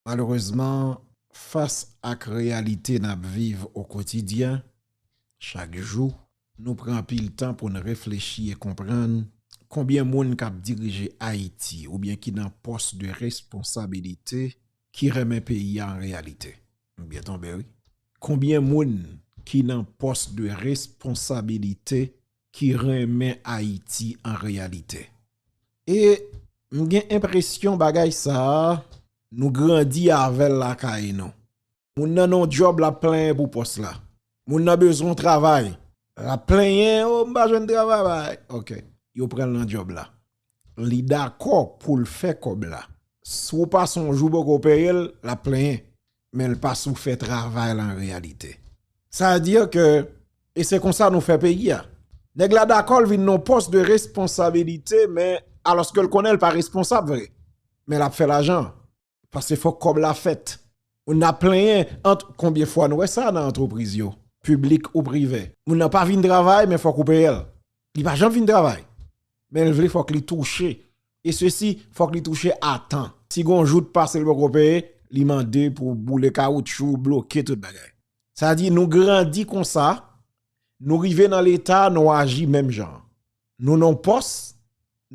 Malerezman, fas ak reyalite n ap viv okotidyen, chak jou, nou pran anpil tan pou n reflechi e konprann konbyen moun k ap dirije Ayiti oubyen ki nan pòs de responsabilite ki renmen peyi a an reyalite. M byen tonbe wi. Konbyen moun ki nan pòs de responsabilite ki renmen Ayiti an reyalite. E m gen enpresyon bagay sa a nou grandi avè l lakay nou. Moun nan non djòb l ap plenyen pou pòs la. Moun nan bezwen travay, l ap plenyen, o m pa jwenn travay. Yo pran l nan djòb la. Li dakò poul fè kòb la. Si w pa sonje w poko peye l, l ap plenyen. Men l pa si w fè travay la an reyalite. Sa vle di ke e se konsa nou fè peyi a. Nèg la dakò l vin nan yon pòs de responsabilite men alòske l konnen l pa responsab vre. Men l ap fè lajan. Paske fòk kòb la fèt. Moun nan ap plenyen ant konbyen fwa nou wè sa nan antrepriz yo, piblik ou prive. Moun nan pa vin travay men fòk ou peye l. Li pa janm vin travay men l vle fòk li touche e sesi fòk li touche a tan. Si gon jou t pase l poko peye, li mande pou boule kawoutchou, bloke tout bagay. Sa di nou grandi konsa, nou rive nan leta nou aji menm jan. Nou nan yon pòs,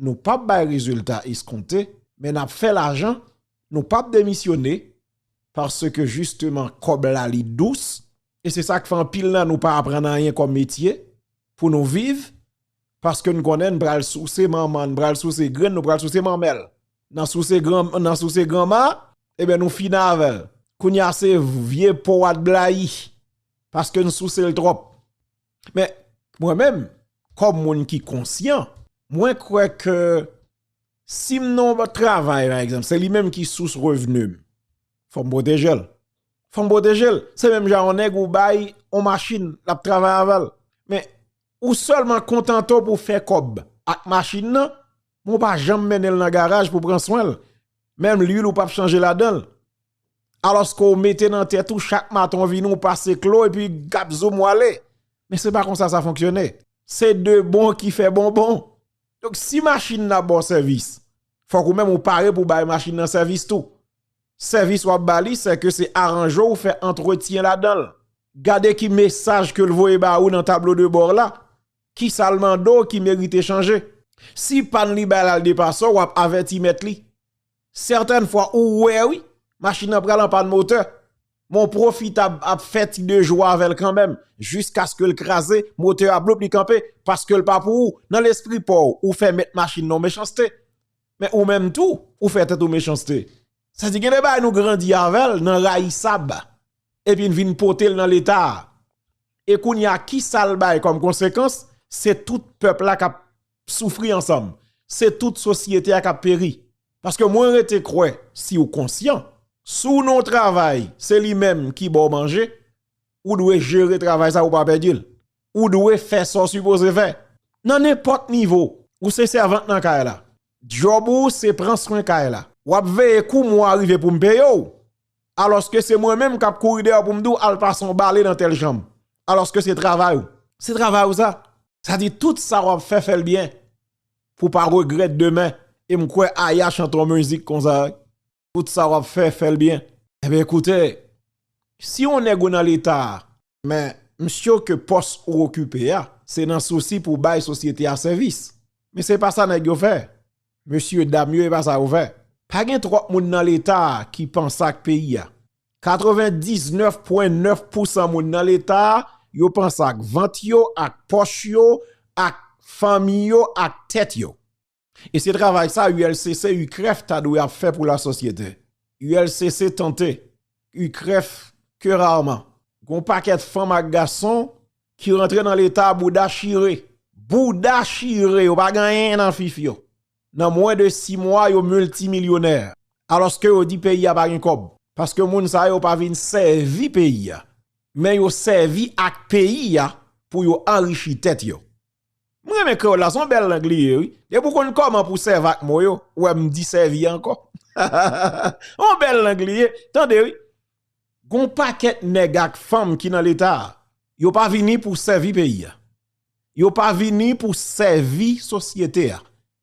nou pap bay rezilta eskonte, men nap fè lajan, nou pap demisyone, paske jisteman kòb la li dous, e se sak fè anpil nan nou pa aprann anyen kòm metye pou nou viv, paske n konnen n pral souse manman, n pral souse grann, nou pral souse manmèl, nan souse gran, nan souse granma, eben nou fini avèl, kounya se vye po a t blayi, paske n souse l twòp. Men, mwen menm, kòm moun ki konsyan, mwen kwè ke si m nan yon bòt travay, pa egzanp, se li menm ki sous revni m, fò m pwoteje l. Fò m pwoteje l. Se menm jan yon nèg ou bay yon machin l ap travay avè l. Men, ou sèlman kontante w pou w fè kòb ak machin nan, men w pa janm mennen l nan garaj pou w pran swen l. Menm luil ou p ap chanje ladan l. Alòske w mete nan tèt ou chak maten w vini w pase klo epi gap zoom w ale. Men se pa konsa sa fonksyone. Se de bon ki fè bon bon. Donk si machin nan ap ba w sèvis, fòk ou menm ou pare pou w bay machin nan sèvis tou. Sèvis w ap ba li se ke se aranje w fè antretyen ladan l. Gade ki mesaj ke l voye ba ou nan tablo de bò w la, kisa l mande w ki merite chanje. Si pàn li bay la l depase w, w ap avèti mèt li. Certaines fois ou wè wi, machin nan pral an pann motè, men w pwofitab ap fè ti de jou avè l kanmèm, jiskaske l kraze, motè a bloup li kanpe, paske l pa pou ou, nan lespri pa w, ou fè mèt machin nan w mechanste. Men ou menm tou, ou fè tèt ou mechanste. Sa di gen de bagay nou grandi avè l nan rayisab, epi n vin pote l nan leta a. E kounye a kisa l bay kòm konsekans, se tout pèp la k ap. soufri ansanm se tout sosyete a kap peri paske mwen rete kwè si ou konsyan si w nan w travay se li menm ki ba w manje ou dwe jere travay sa ou pa pèdi l ou dwe fè sa w sipoze fè nan nenpòt nivo ou se sèvant nan kay la djòb ou se pran swen kay la w ap veye kou mwa rive pou m peye w Alòske se mwen menm kap kouri dèyè w pou m di w al pase yon bale nan tèl chanm. Alòske se travay ou. Se travay ou sa. Sa di tout sa wap fè fè l byen pou w pa regrèt demen. E m kwè Aya chante yon mizik konsa wi. Tout sa wap fè fè l byen. Enben koute, si yon nèg ou nan leta a. Men, m sure ke pòs ou okipe a, se nan sousi pou w bay sosyete a sèvis. Men se pa sa nèg yo fè. Mesye, dam yo, e pa sa yo fè. Pa gen twòp moun nan Leta a ki panse ak peyi a. 99 pwen 9 pousan moun nan Leta a, yo panse ak vant yo, ak pòch yo, ak fanmi yo, ak tèt yo. E se travay sa ULCC, UCREF ta dwe ap fè pou la sosyete. ULCC tante, UCREF ke rarman. Gon pakèt fanm ak gason ki rantre nan leta bouda chire. Bouda chire yo pa gen anyen nan fif yo. Nan mwen de 6 mwa yo miltimilyonè. Aloske yo di peyi a pa gen kòb. Paske moun sa yo pa vin sèvi peyi a. Men yo sèvi ak peyi a pou yo anrichi tèt yo. M renmen kreyòl la, se yon bèl lang li ye wi. Depi w konn kòman pou w sèvi ak mo yo, ou wè m di sèvi ankò. Yon bèl lang li ye, tande wi. Gon pakèt nèg ak fanm ki nan Leta a, yo pa vini pou sèvi peyi a. Yo pa vini pou sèvi sosyete a.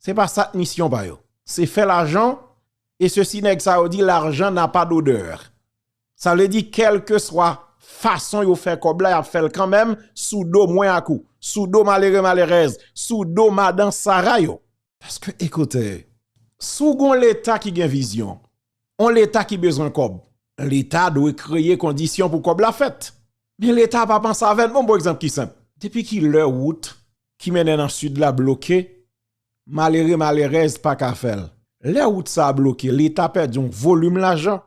Se pa sa k misyon pa yo. Se fè lajan, e sesi nèg sa yo di l'argent n'a pas d'odeur. Sa vle di kèlkeswa fason yo fè kòb la y ap fè l kanmenm sou do mwen ak ou, sou do malere malerèz, sou do madan sara yo. Paske ekoute, si w gon leta ki gen vizyon, on leta ki bezwen kòb, leta dwe kreye kondisyon pou kòb la fèt. Men leta pa panse avè n. Bon pou egzanp ki senp, depi ki lè wout ki mennen nan Sid la bloke, malere malerèz pa ka fè l. Lè wout sa a bloke, Leta pèdi yon volim lajan,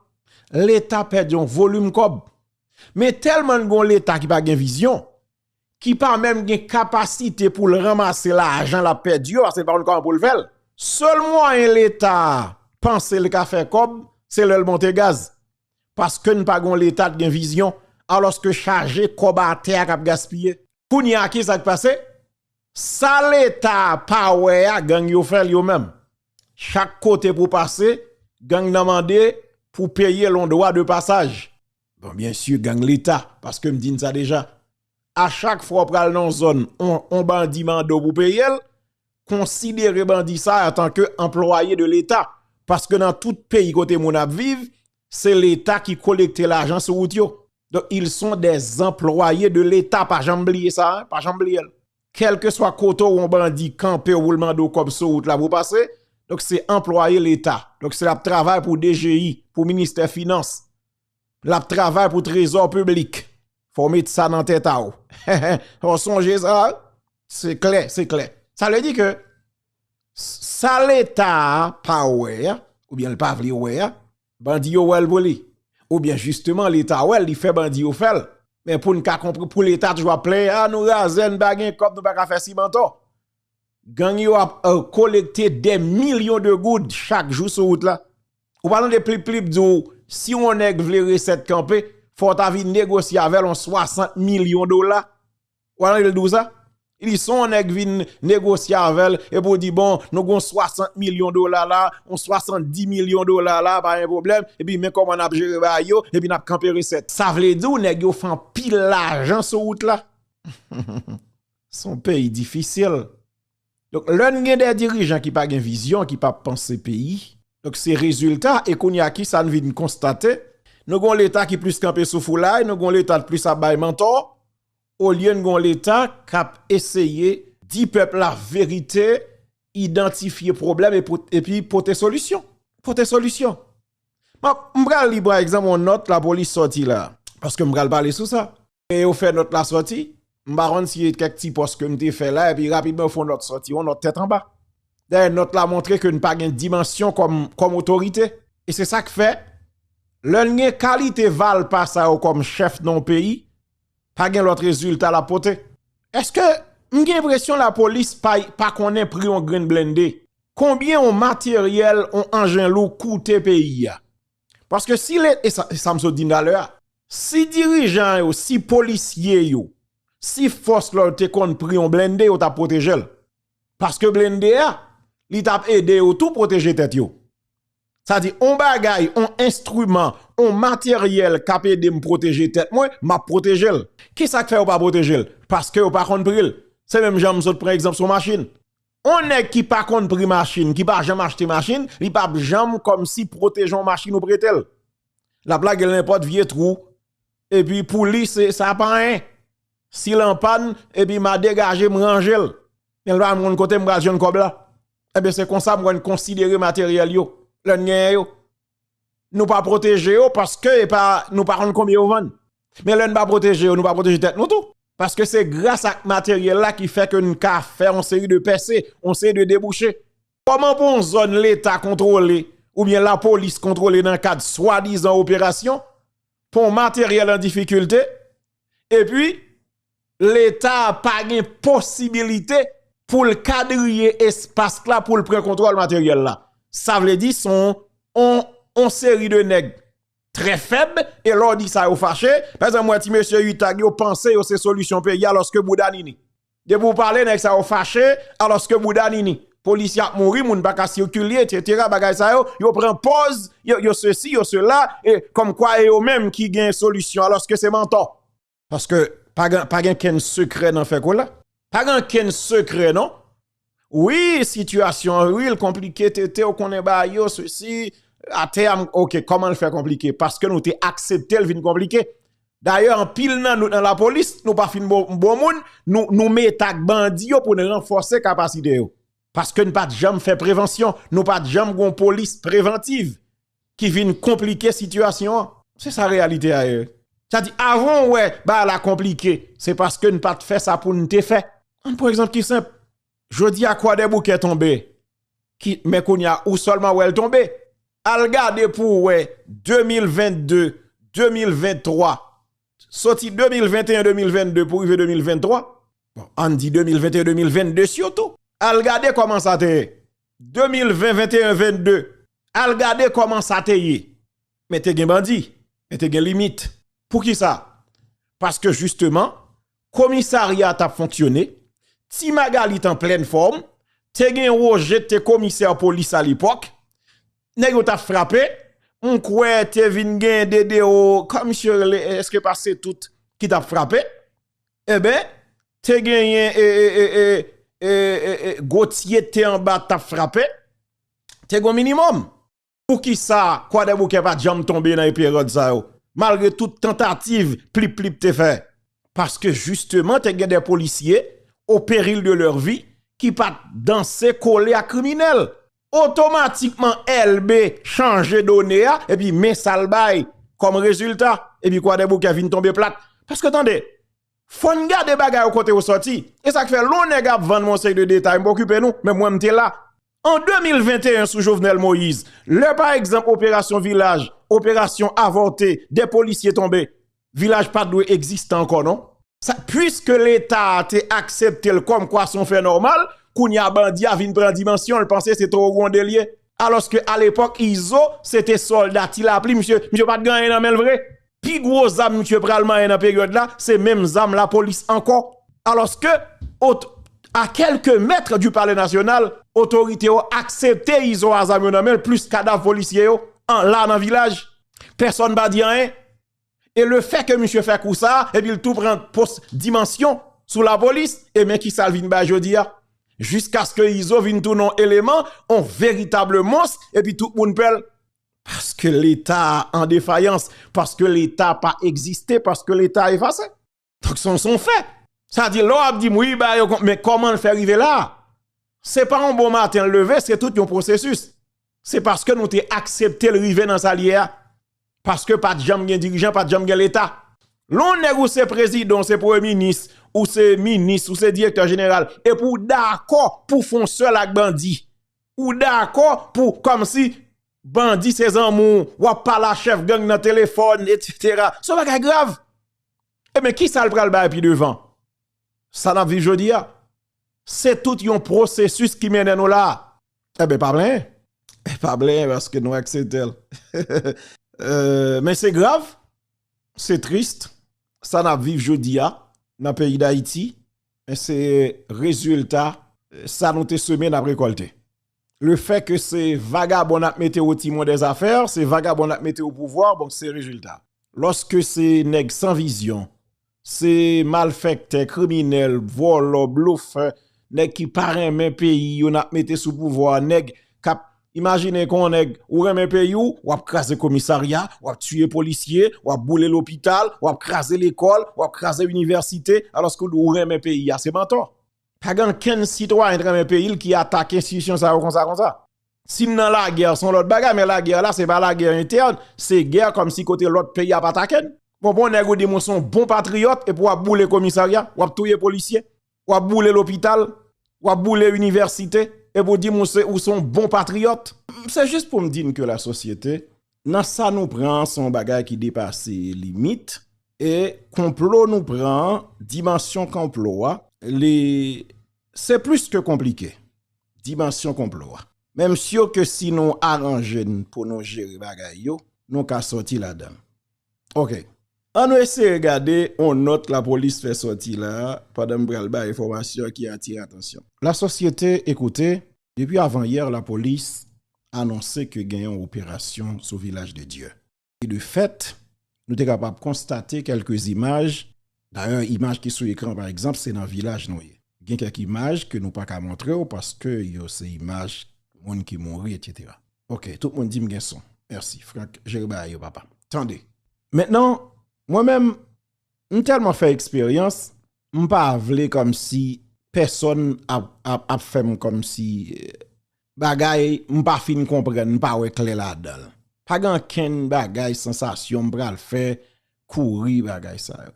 Leta pèdi yon volim kòb. Men tèlman n gen yon Leta ki pa gen vizyon, ki pa menm gen kapasite pou l ranmase lajan l ap pèdi yo, paske l pa konn kòman pou l fè l. Sèl mwayen Leta panse l ka fè kòb, se lè l monte gaz. paske n pa gon leta t gen vizyon aloske chaje kòb atè a kap gaspiye kounye a ki sak pase sa leta pa wè a gang yo fèl yo menm chak kote pou pase gang nan mande pou peye lon dwa de pasaj bon byensi gang leta paske m di n sa deja a chak fwa ou pral nan yon zòn yon bandi mande w pou peye l, konsidere bandi sa antanke anplwaye de leta paske nan tout peyi kote moun ap viv se leta ki kolekte lajan sou wout yo. Donk ils sont des employés de l'Etat pa janm bliye sa, pa janm bliye l. Kèlkeswa kote w yon bandi kanpe w pou l mande w kòb sou wout la pou w pase, donk se anplwaye leta, donk se l ap travay pou dgi, pou ministè finans. Lap travay pou trezò piblik. Fò met sa nan tèt a ou. Ou sonje sa? Se klè, se klè. Sa vle di ke sa leta pa wè a, ou byen l pa vle wè a, bandi yo wè l pou li. Ou byen jisteman leta wè l, li fè bandi yo fè l. Men pou n ka konpre, pou leta toujou ap plenyen, a nou razè, n pa gen kòb, nou pa ka fè simanton. Gang yo ap kolekte dè milyon de goud chak jou sou wout la. Ou pa tande plip plip di w si yon nèg vle resèt kanpe, fò w ta vin negosye avè l yon 60 milyon dola. Ou pa tande l di w sa? Li di si yon nèg vin negosye avè l epi w di bon nou gen yon 60 milyon dola la, yon 70 milyon dola la pa gen pwoblèm epi men kòman n ap jere bagay yo epi n ap kanpe resèt. Sa vle di w nèg yo fè anpil lajan sou wout la. Son peyi difisil. Donk lè n gen de dirijan ki pa gen vizyon, ki pa panse peyi, donk se rezilta e kounye a kisa n vin konstate, nou gon leta ki plis kanpe sou foulay, nou gon leta k plis ap bay mantò, olye n gon leta k ap eseye di pèp la verite, idantifye pwoblèm epi pote solisyon. Pote solisyon. M pral li pa egzanp yon nòt lapolis sòti la, paske m pral pale sou sa. E yo fè nòt la sòti. M pa konn si e kèk ti pòs ke m te fè la epi rapidman yo fè yon nòt sòti, yon nòt tèt anba. Dayè nòt la montre ke n pa gen dimansyon kòm otorite. E se sa k fè, lè n gen kalite valpa sa yo kòm chèf nan yon peyi, pa gen lòt rezilta l ap pote. Èske m gen enpresyon lapolis pa konnen pri yon grenn blennde, konbyen yon materyèl, yon anjen lou koute peyi a? Paske si le, e sa m sot di talè a, si dirijan yo, si polisye yo, si fòs lòd te konn pri yon blende yo ta pwoteje l. Paske blende a, li t ap ede yo tou pwoteje tèt yo. Sa di, yon bagay, yon enstriman, yon materyèl k ap ede m pwoteje tèt mwen, m ap pwoteje l. Ki sa k fè yo pa pwoteje l? Paske yo pa konn pri l. Se menm jan m sot pran egzanp sou yon machin. On nèg ki pa konn pri machin, ki pa janm achte machin, li p ap janm kòmsi pwoteje on machin ou prete l. L ap lage l nenpòt vye twou, epi pou li se sa pa anyen. Si l anpàn, epi m a degaje m ranje l. Men l pa konn kote m pral jwenn kòb la. Enben se konsa mwen konsidere materyèl yo, lè n genyen yo. nou pa pwoteje yo paske e pa nou pa konn konbyen yo vann. Men lè nou pa pwoteje yo, nou pa pwoteje tèt nou tou. Paske se gras ak materyèl la ki fè ke nou ka fè yon seri de pèse, yon seri de debouche. Kòman pou yon zòn leta kontwole oubyen lapolis kontwole nan kad swadizan operasyon, pou yon materyèl an difikilte, epi Leta pa gen posibilite pou l kadriye espas la pou l pran kontwòl materyèl la. Sa vle di son on seri de nèg trè fèb e lè w di sa yo fache. Pè zan mwen ti mesye Utag yo panse yo se solisyon peyi alòske bouda nini. Depi w pale nèg sa yo fache alòske bouda nini. Polisye ap mouri, moun pa ka sikile etc. Bagay sa yo, yo pran pòz, yo sesi, yo sela, kòm kwa e yo menm ki gen solisyon alòske se mantò. Paske pa gen ken sekrè nan fè kola. Pa gen ken sekrè non. Wi sitiyasyon wi l konplike tete w konnen ba yo se si. A te am ok koman l fè konplike. Paske nou te aksepte l vin konplike. Dayè an pil nan nou nan la polis nou pa fin bon moun. Nou met ak bandi yo pou n renfose kapasite yo. Paske n pat janm fè prevansyon. Nou pat janm gon polis prevantiv. ki vin konplike sitiyasyon an. Se sa reyalite a ye. Sa di avan w wè bagay la konplike, se paske n pa t fè sa pou n te fè. An pran egzanp ki senp, jodi a Kwadèboukè tonbe, men kounye a ou sèlman wè l tonbe. Al gade pou w wè 2022, 2023, soti 2021, 2022 pou rive 2023, bon an n di 2021, 2022 sitou, al gade kòman sa te ye 2020, 21, 22. Al gade kòman sa te ye. Men te gen bandi. Men te gen limit. Pou ki sa? Paske jisteman, komisarya tap fonksyone, ti Magalie t an plèn fòm, te gen Roger k te komisè polis a lepòk, nèg yo tap frape, m kwè te vin gen Dedeo, kòman misye rele, eske pa se tout ki tap frape, enben, te genyen Gauthier k te anba tap frape, te gon minimòm. Poukisa Kwadèboukè pa t janm tonbe nan eperòd sa yo, malgre tout tantativ Plip Plip te fè? Paske jisteman te gen de polisye, o peril de lèr vi, ki pa t danse kole ak kriminèl. Otomatikman Elbe chanje done a, epi men sa l bay kòm rezilta, epi Kwadèboukè vin tonbe plat. Paske tande, Fòn gade bagay yo kote yo sòti. E sak fè lò nèg ap vann yon seri de detay mpa okipe nou, men mwen mte la. An 2021 sou Jovenel Moïse, lè pa egzanp operasyon vilaj, operasyon avòte, 2 polisye tonbe, vilaj pat dwe egziste ankò non. Sa puiske leta te akseptel kòm kwa son fè nòmal, kounya bandi a vin pran dimansyonl panse se Towo Gronde liye. Alòske alepòk Izo se te sòlda ti lapli misye, misye pat gen anyen nan menl vre. Pi gwo zam misye pral manyen nan peryòd la, se menm zam lapolis ankò. Alòske, a kèlke mèt di Palè Nasyonal, otorite yo aksepte Izo a zam yo nan men l plis kadav polisye yo la nan vilaj. Pèsòn pa di anyen. E lefè ke misye fè kou sa a, epi l tou pran pos dimansyon sou lapolis, e men kisa l vin bay jodi a. Jiskaske Izo vin tounen yon eleman, yon veritab mons, epi tout moun pè l. Paske leta an defayans, paske leta pa egziste, paske leta efase. Donk son son fè. Sa di lò ap di m wi ba yo kont men kòman l fè rive la. Se pa yon bon maten leve, se tout yon pwosesis. Se paske nou te aksepte l rive nan sa l ye a. Paske pa t janm gen dirijan, pa t janm gen leta. Lè yon nèg ou se prezidan, ou se premye minis, ou se minis, ou se direktè jeneral, epi ou dakò pou fon sèl ak bandi. Ou dakò pou kòmsi bandi se zanmi w, w ap pale a chèf gang nan telefòn etsetera. Se yon bagay grav. Eben ki sa l pral bay pi devan? Sa n ap viv jodi a? Se tout yon pwosesis ki mennen nou la a. Eben pa plenyen. Pa plenyen paske nou aksepte l. Men se grav, se trist sa n ap viv jodi a nan peyi Dayiti Men se rezilta sa nou te seme nap rekolte. Le fè ke se vagabon nap mete o timon de zafè, se vagabon nap mete o pouvwa, bon se rezilta. Lòske se nèg san vizyon, se malfèktè, kriminèl, vòlò, blofè, nèg ki pa renmen peyi yo nap mete sou pouvwa, nèg kap Imajine kon nèg ou renmen peyi w, w ap kraze komisarya, w ap tiye polisye, w ap boule lopital, w ap kraze lekòl, w ap kraze inivèsite, alòske w di w renmen peyi a. Se mantò. Pa gen ankenn sitwayen ki renmen peyi l ki atake enstitisyon sa yo konsa konsa. Si n nan lagè, se yon lòt bagay, men lagè la se pa lagè entèn, se gè kòmsi kote lòt peyi ap atake n. Bon, pou yon nèg ou di m ou se yon bon patriyòt epi w ap boule komisarya, w ap touye polisye, wap boule lopital, wap boule inivèsite, epi w di m ou se yon bon patriyòt. Se jis pou m di n ke la sosyete, nan sa nou pran an se yon bagay ki depase limit, e konplo nou pran an, dimansyon konplo a, li se plis ke konplike, dimansyon konplo a. Men m si ke si nou aranje n pou nou jere bagay yo, nou ka sòti ladan l. Ok. An nou eseye gade yon nòt lapolis fè sòti la a pandan m pral bay enfòmasyon ki atire atansyon. Lasosyete e koute, depi avan yè lapolis anonse ke gen yon operasyon sou Vilaj de Dye. E de fèt, nou te kapab konstate kèlke imaj, dayè imaj ki sou ekran pa egzanp se nan Vilaj nou ye. Gen kèk imaj ke nou pa ka montre w paske yo se imaj moun ki mouri etc. Ok, tout moun di m gen son. Mèsi. Frank, jere bagay yo papa. Tande! Mentnan, mwen menm, m tèlman fè eksperyans, m pa vle kòmsi pèsòn ap fè m kòmsi bagay m pa fin konprann, m pa wè klè ladan. Pa gen ankenn bagay, sansasyon m pral fè kouri bagay sa yo.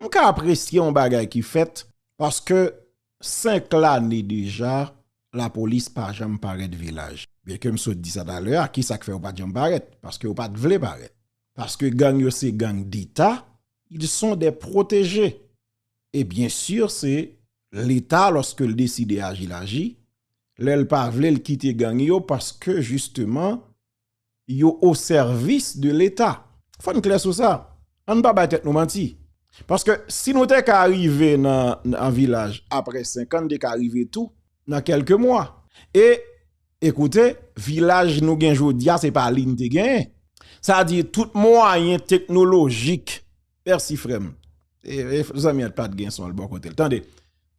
M ka apresye yon bagay ki fèt paske 5 lane deja lapolis pa janm parèt vilaj byen ke m sot di sa talè a ki sa k fè yo pa t janm parèt paske yo pa t vle parèt paske gang yo se gang deta ils sont des protégés e byen sur se leta lòske l deside aji l aji lè l pa vle l kite gang yo paske jisteman yo o sèvis de leta. Fò n klè sou sa. An n pa bay tèt nou manti. Paske si nou te ka rive nan vilaj apre senkan n te ka rive tou nan kèlke mwa. E ekoute vilaj nou gen jodi a se pa li n te genyen. Sa di tout mwayen teknolojik mèsi frè m. Zanmi an pat gen son l bò kote l. Tande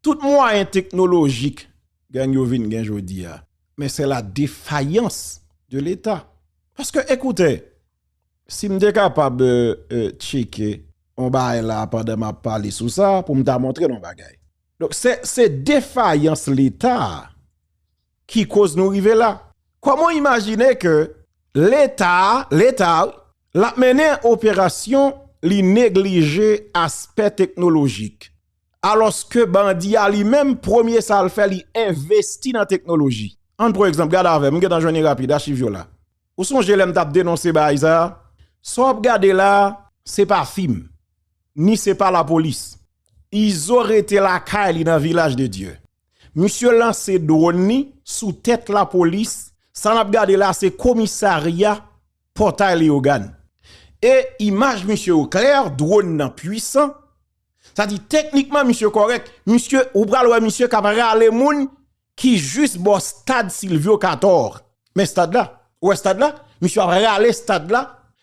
tout mwayen teknolojik gang yo vin gen jodi a. men se la defayans de leta paske ekoute si m te kapab tcheke yon bagay la pandan m ap pale sou sa pou m ta montre nou yon bagay donk se defayans leta ki koz nou rive la kòman w imajine ke leta leta wi l ap mennen operasyon li neglije aspè teknolojik. Alòske bandi a li menm, premye sa l fè li envesti nan teknoloji. An pran egzanp, gade avè m, m gen tan jwenn li rapid, achiv yo la. Ou sonje lè m t ap denonse baay sa a? Sa w ap gade la a, se pa fim, ni se pa lapolis. Izo rete lakay li nan Vilaj de Dye. Misye lanse dwòn li sou tèt lapolis, sa n ap gade la a se komisarya Pòtay Leyogàn. E imaj misye yo klè, dwòn nan pwisan. Sa di teknikman misye kòrèk, misye ou pral wè misye kap rale moun ki jis bò stad Silvyo Katòr. Men stad la, ou wè stad la, misye ap rale stad la,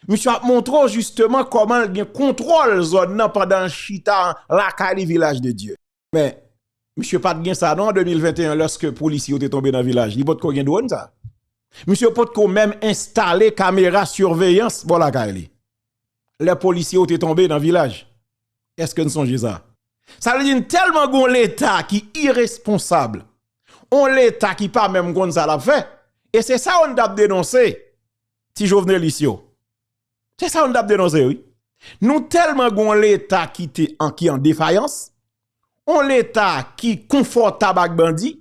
misye ap montre w jisteman kòman l gen kontwòl zòn nan pandan l chita lakay li Vilaj de Dye. Men, misye pat gen sa non an 2021 lòske polisye yo te tonbe nan vilaj, li potko gen dwòn sa. Misye potko menm enstale kamera siveyans bò lakay li. lè polisye yo te tonbe nan vilaj. Eske n sonje sa? Sa vle di n tèlman gon leta ki iresponsab, on leta ki pa menm konn sa l ap fè, e se sa yo n t ap denonse, ti jovenelis yo. Se sa yo n t ap denonse wi. Nou tèlman gon leta ki te an ki an defayans, on leta ki konfòtab ak bandi,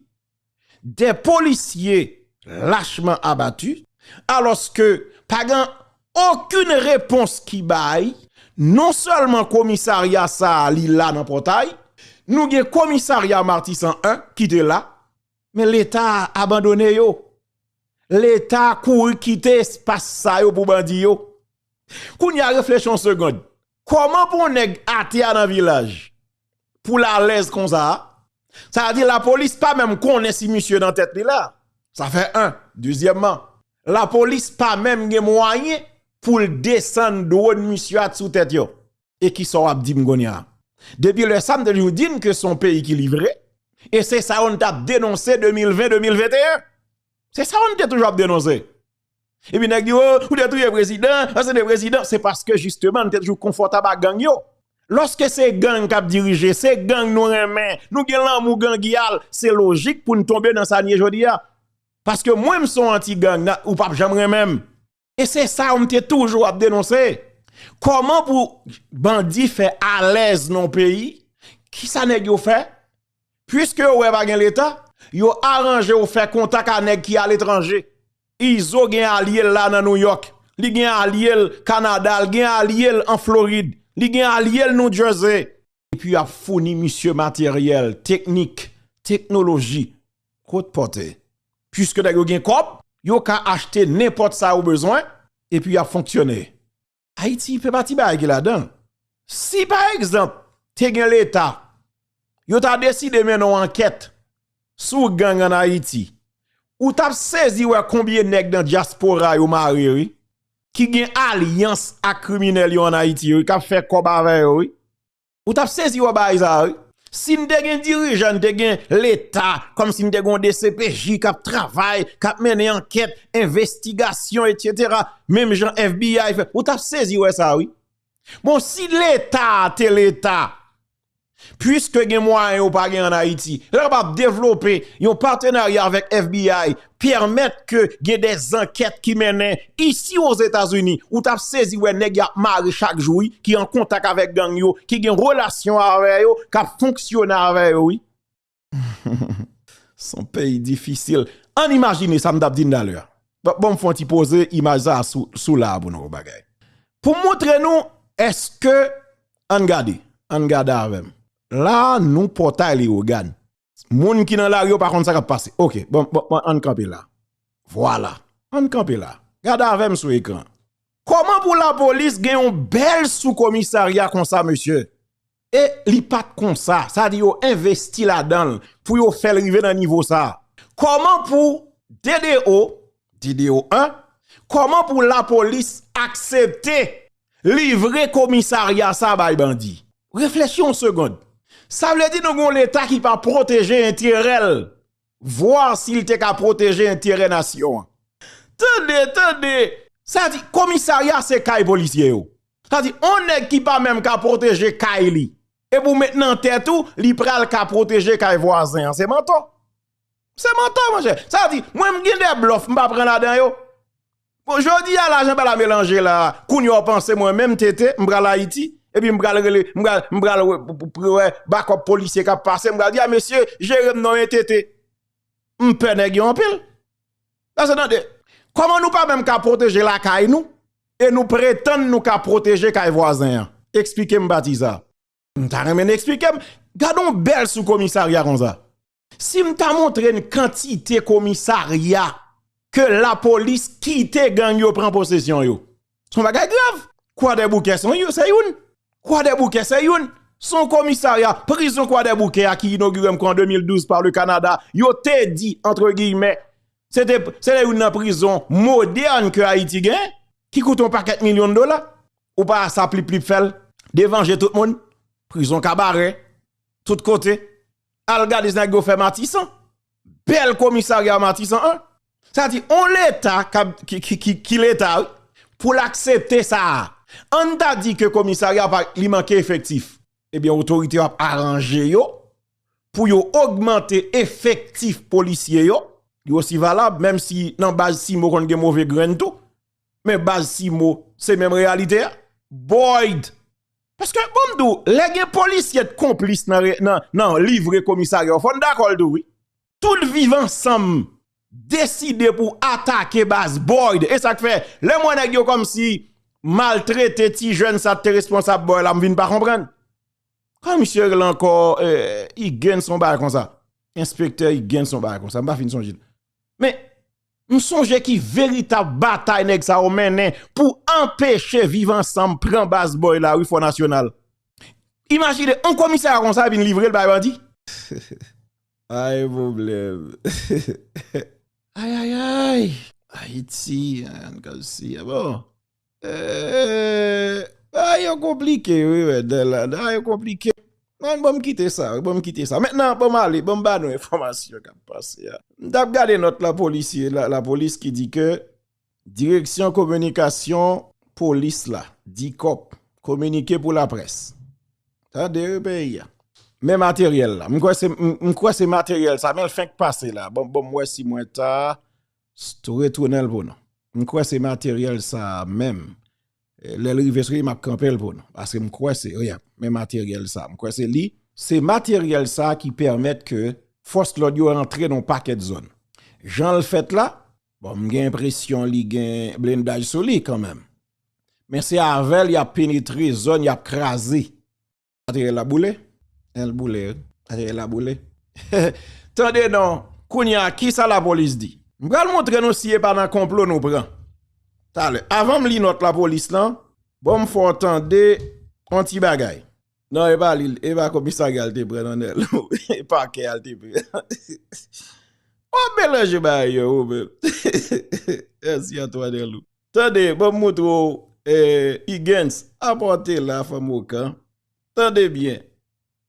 des policiers lachement abattus alos ke pa gen okenn repons ki bay, non selman komisarya sa a li la nan potay, nou gen komisarya Martissant 1 ki te la, men leta abandone yo, leta kouri kite espas sa yo pou bandi yo. Kounye a reflechi yon segond, Koman pou yon neg atea nan vilaj pou l alez konsa a? Sa di la polis pa menm konnen si misye nan tet li la. Sa fe 1. Dezyemman, la polis pa menm gen mwayen pou l desann dwon misye a t sou tet yo. E kisa w ap di m kounye a? Depi le sa m te toujou di n ke son peyi ki livre e se sa yo n t ap denonse 2020, 2021. Se sa yo n te toujou ap denonse. Epi nèg di oh ou te touye prezidan, asede prezidan, se paske jisteman nou te toujou konfòtab ak gang yo. Lòske se gang k ap dirije, se gang nou renmen, nou gen lanmou gangyal, se lojik pou n tonbe nan sa n ye jodi a. Paske mwen m son anti gang, nan ou p ap janm renmen m. E se sa yo m te toujou ap denonse. Kòman pou bandi fè alèz nan yon peyi, kisa nèg yo fè? Puiske yo wè pa gen leta, yo aranje yo fè kontak a nèg ki a letranje. Izo gen alye l la nan New York, li gen alye l Kanada, li gen alye l an Florid, li gen alye l New Jersey. Epi yo ap founi misye materyèl, teknik, teknoloji. Kot pote. Puiske nèg yo gen kòb, yo ka achte nenpòt sa yo bezwen, epi y ap fonksyone. Ayiti fè pati bagay ki ladan l. Si pa egzanp te gen leta, yo ta deside mennen yon ankèt sou gang an Ayiti, ou t ap sezi wè konbyen nèg nan dyaspora yo mare wi, ki gen alyans ak kriminèl yo an Ayiti wi, k ap fè kòb avè yo wi. Ou tap sezi wè bagay sa wi. Si n te gen dirijan, n te gen leta, kòm si n te gen yon dcpj kap travay, kap mennen ankèt, envestigasyon etc. Menm jan FBI fè, ou tap sezi wè sa wi. Bon si leta te leta, pwiske gen mwayen ou pa gen an Ayiti, lè yo pa devlope yon patenarya avèk FBI pèmèt ke gen de zankèt ki mennen isi o Zetazini, ou tap sezi wè nèg yap mare chak jou wi, ki an kontak avèk gang yo, ki gen relasyon avè yo, kap fonksyone avè yo wi. Son peyi difisil. Ann imajine sa m tap di n talè a. Banm fon ti poze imaj sa sou la a pou nou wè bagay. Pou montre nou eske, ann gade, ann gade avè m. La a nou Pòtay Leyogàn. Moun ki nan lari yo pa konn sa kap pase. Ok, bon, bon, bon, an kanpe la. Vwala, an kanpe la. Gade avèm sou ekran. Koman pou la polis gen yon bèl sou komisarya konsa, mesye? E li pat konsa. Sa di yo envesti la danl pou yo fèl rive nan nivo sa. Koman pou DDO, DDO 1, koman pou la polis aksepte? Livre komisarya sa bay bandi. Reflechi yon segond. Sa vle di nou gen yon leta ki pa pwoteje enterè l. Voir si l te ka pwoteje enterè nasyon an. Tande, tande! Sa di komisarya se kay polisye yo. Sa di yon nèg ki pa menm ka pwoteje kay li. Epi w met nan tèt ou li pral ka pwoteje kay vwazen an. Se mantò. Se mantò monchè. Sa di mwen m gen de blòf m pa pran ladan yo. Bon jodi a lajan pala melanje la kounya w panse mwen menm TT m pral Ayiti epi m pral rele m pral m pral wè bakòp polisye k ap pase m pral di a mesye jere m non e TT m pè nèg yo anpil paske tande kòman nou pa menm ka pwoteje lakay nou e nou pretann nou ka pwoteje kay vwazen an esplike m pati sa a. M ta renmen eksplike m, gade yon bèl sou komisarya konsa. Si m ta montre n kantite komisarya ke lapolis kite gang yo pran posesyon yo, son bagay grav. Kwadèboukè se youn, kwadèboukè se youn. Son komisarya, prizon kwadèboukè a ki inogire m kwa an 2012 pa le Kanada, yo te di, antre giyimè, se te youn nan prizon modèn ke Ayiti gen, ki koute yon pakèt milyon dola. Ou pa a sa plip plip fèl devan je tout moun prizon kabare tout kote al gade nèg yo fè matisan bèl komisarya matisan an sa di on leta ki leta wi pou l aksepte sa a an ta di ke komisarya li manke efektif ebyen otorite yo ap aranje yo pou yo ogmante efektif polisye yo yo si valab menm si nan baz simo konn gen move grenn tou. Men baz simo se menm reyalite a. Boyd. Paske bon mdou, lè gen polisye t konplis nan livre komisaryo, fò n dakò l tou wi. Tout viv ansanm deside pou atake baz Boyd. E sak fè, lè m wè nèg yo kòm si maltrete ti jèn sa t te responsab Boyd la m vin pa konprann. Kòman misye rele ankò Higgins on bagay konsa. Enspektè Higgins on bagay konsa. M pa fin sonje l. Men, m sonje ki veritab batay nèg sa yo mennen pou anpeche viv ansanm pran baz bòy la wi Fò Nasyonal. Imajine, yon komisarya konsa yo vin livre l bay bandi? Ay pwoblèm! Ayayayy! Ayiti, an n kase, bon! Bagay yo konplike wi Wendell la, bagay yo konplike, men banm kite sa, banm kite sa. Mèt nan banm ale, banm ba nou enfòmasyon kap pase a. M tap gade nòt la polisye, la polis ki di ke direksyon kominikasyon polis la, dikòp, kominike pou laprès. Tande wi peyi a. Men materyèl la, m kwè se materyèl sa, men l fenk pase la, banm wè si mwen ta Stou retounen l pou nou. M kwè se materyèl sa a menm. Lè l rive sou li m ap kanpe l pou nou. Paske m kwè se li menm materyèl sa a. M kwè se li. Se materyèl sa a ki pèmèt ke fòs lòd yo rantre nan yon pakèt zòn. Jan l fèt la, bon m gen enpresyon li gen blendaj sou li kanmenm. Men se avè l y ap penetre zòn y ap kraze. Materyèl la boule? Èl boule wi. Materyèl la boule? Tande non, kounye a kisa lapolis di? M pral montre nou si e pa nan konplo nou pran talè. Avan m li nòt lapolis lan, bon m fè w tande yon ti bagay. Non e pa li, e pa komisarya l te pran non Nèl. E pakè a l te pran. Wap melanje bagay yo ou menm. Mèsi Antwàn Nèlou. Tande, banm moutre w Huguens, apa w te la fanm okan, tande byen,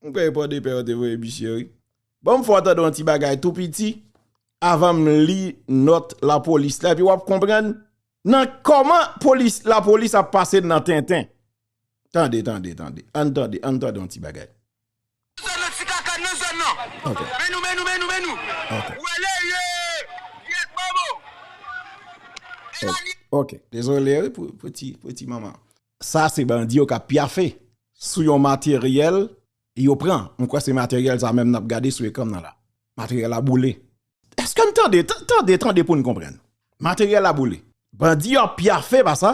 m kwè e Pòdepè yo te voye misye wi. Banm fè w tande yon ti bagay tou piti avan m li nòt lapolis la epi w ap konprann nan kòman polis, lapolis ap pase nan tenten. Tande, tande, tande, ann tande, ann tande yon ti bagay. Sa se bandi yo kap pyafe sou yon materyèl yo pran. Mwen kwè se materyèl sa menm nap gade sou ekran nan la. Materyèl la boule. Eske nou tande? Tande, tande pou nou konprann. Materyèl la boule. Bandi yo ap pyafe pa sa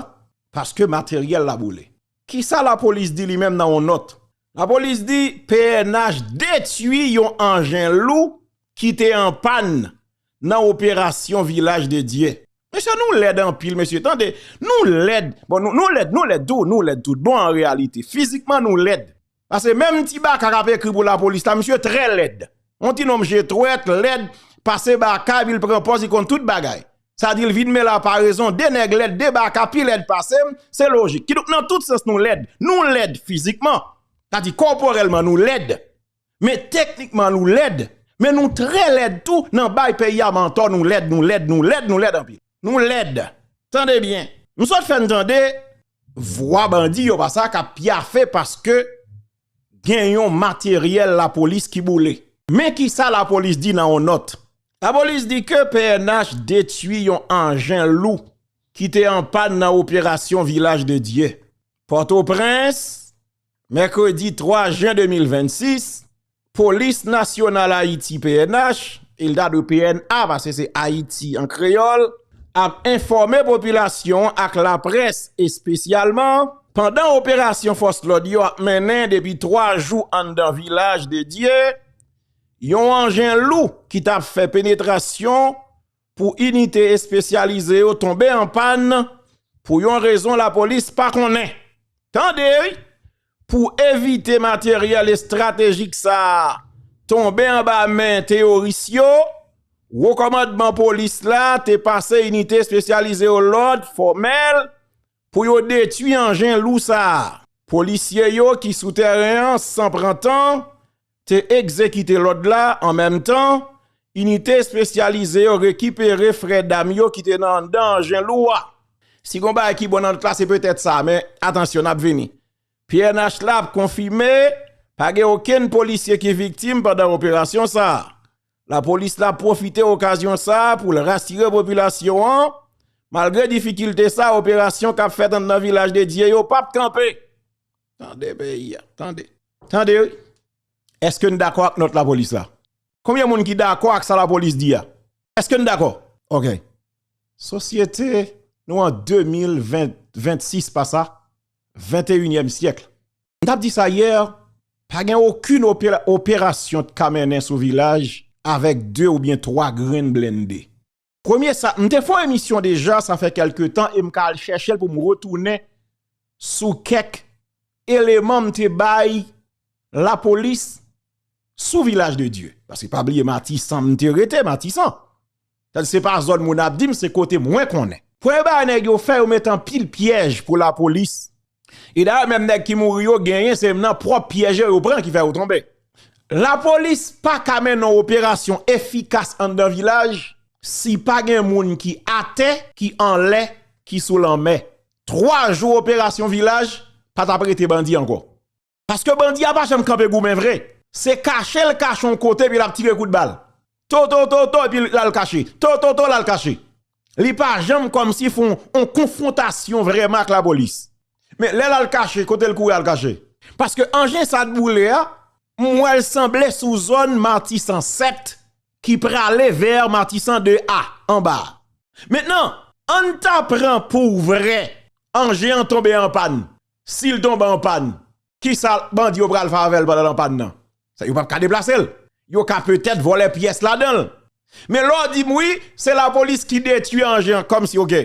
paske materyèl la boule. Kisa lapolis di li menm nan yon nòt? Lapolis di pnh detui yon anjen lou ki te an pàn nan operasyon Vilaj de Dye. Mesye nou lèd anpil mesye tande nou lèd bon nou lèd nou lèd tou nou lèd tout bon an reyalite fizikman nou lèd pase menm ti baka kap ekri pou lapolis la misye trè lèd yon ti nonm je twèt lèd pase baka epi l pran pòz li konn tout bagay Sa di l vin men la parezon, 2 nèg lèd, 2 baka pi lèd pase m, se lojik. Kidonk nan tout sans nou lèd. Nou lèd fizikman, sa di kòporèlman nou lèd, men teknikman nou lèd, men nou trè lèd tou nan bay peyi a mantò, nou lèd, nou lèd, nou lèd, nou lèd anpil. Nou lèd! Tande byen! M sot fè n tande Vwa bandi yo pa sa k ap pyafe paske gen yon materyèl lapolis ki boule. Men ki sa lapolis di nan yon nòt. Lapolis di ke pnh detui yon anjen lou ki te anpàn nan operasyon Vilaj de Dye, Pòtoprens. Mèkredi 3 jen 2026, Polis Nasyonal Ayiti, pnh, e l ta dwe pna paske se Ayiti an kreyòl, ap enfòme popilasyon an ak laprès espesyalman, pandan operasyon fòs lòd yo ap mennen depi 3 jou anndan Vilaj de Dye, yon anjen lou ki t ap fè penetrasyon pou inite espesyalize yo tonbe an pàn pou yon rezon lapolis pa konnen. Tande! Pou evite materyèl estratejik sa a tonbe anba men teyoris yo, Wo Kòmandman Polis la te pase inite espesyalize yo lòd fòmèl Pou yo detwi anjen lou sa a, polisye yo ki sou tèren an san pran tan te egzekite lòd la, an menm tan, inite espesyalize yo rekipere frè dam yo ki te nan anndan anjen lou a. Si gon bagay ki bon nan lòt la se petèt sa, men atansyon n ap vini. Pnh la ap konfime pa gen okenn polisye ki viktim pandan operasyon sa a. Lapolis la pwofite okazyon sa a pou l rasire popilasyon an, malgre difikilte sa a, operasyon k ap fèt anndan Vilaj de Dye yo p ap kanpe. Tande peyi a, tande. Tande wi. Eske n dakò ak nòt lapolis la? Konbyen moun ki dakò ak sa lapolis di a? Eske n dakò? Ok. Sosyete, nou an 2026 pa sa? Venteyinyèm syèkl. M tap di sa hier, pa gen okun operasyon t ka mennen sou vilaj avek 2 oubyen 3 grenn blende. Premye sa, m te fon emisyon deja sa fè kelke tan e m ka al chèchel pou m retounen sou kèk eleman m te bay lapolis sou vilaj de Dye. Paske pa bliye Matisan m te rete, Matisan. Tan se pa zòn moun ap dim se kote mwen konnen. Premye bagay nèg yo fè yo met anpil pyèj pou lapolis. E dayè menm nèg ki mouri yo genyen se nan pwòp pyèj yo yo pran ki fè yo tonbe. Lapolis pa ka mennen yon operasyon efikas anndan vilaj si pa gen moun ki atè, ki anlè, ki sou lanmè. Twa jou operasyon vilaj pa t ap rete bandi ankò. Paske bandi a pa janm kanpe goumen vre. Se kache l kache yon kote epi l ap tire kout bal. To to to to epi l al kache. To to to l al kache. Li pa janm kòmsi fon yon konfwontasyon vrèman ak lapolis. Men lè l al kache, kote l kouri al kache? Paske anjen sa t boule a, m wè l sanble sou zòn Matisan 7 ki prale vè Matisan 2 a, anba a. Mentnan, an n ta pran pou vrè anjen an tonbe anpàn. Sil tonbe an pann kisa bandi yo pral fè avèl pandan l an pann nan? Sa yo pap ka deplase l? Yo ka petèt vòlè pyès ladan l. Men lè w di m wi se lapolis ki detui anjen kòmsi ok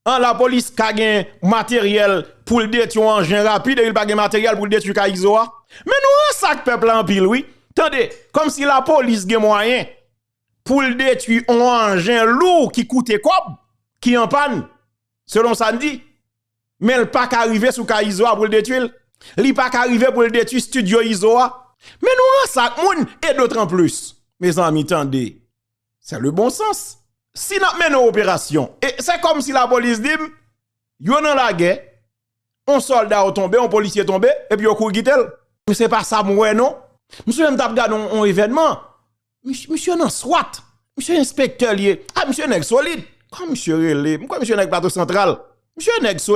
an lapolis ka gen materyèl pou l detui yon anjen rapid epi l pa gen materyèl pou l detui kay izo a? Men nou rensa ak pèp la anpil wi tande kòmsi lapolis gen mwayen pou l detui yon anjen lou ki koute kòb ki an pann selon sa n di Men l pa ka rive sou kay Izo a pou l detwi l? Li pa ka rive pou l detwi stidyo Izo a? Men nou ranse ak moun e dotranplis. Mezanmi tande, se le bon sans. Si n ap mennen operasyon e se kòm si lapolis di m yo nan lagè, yon sòlda yo tonbe, yon polisye tonbe epi yo kouri kite l. Men se pa sa m wè non. M souvan m t ap gade yon evènman. Misye nan swat, misye enspektè liye, a misye nèg solid, kòman misye rele, mwen kwè misye nèg plato santral, misye nèg solid.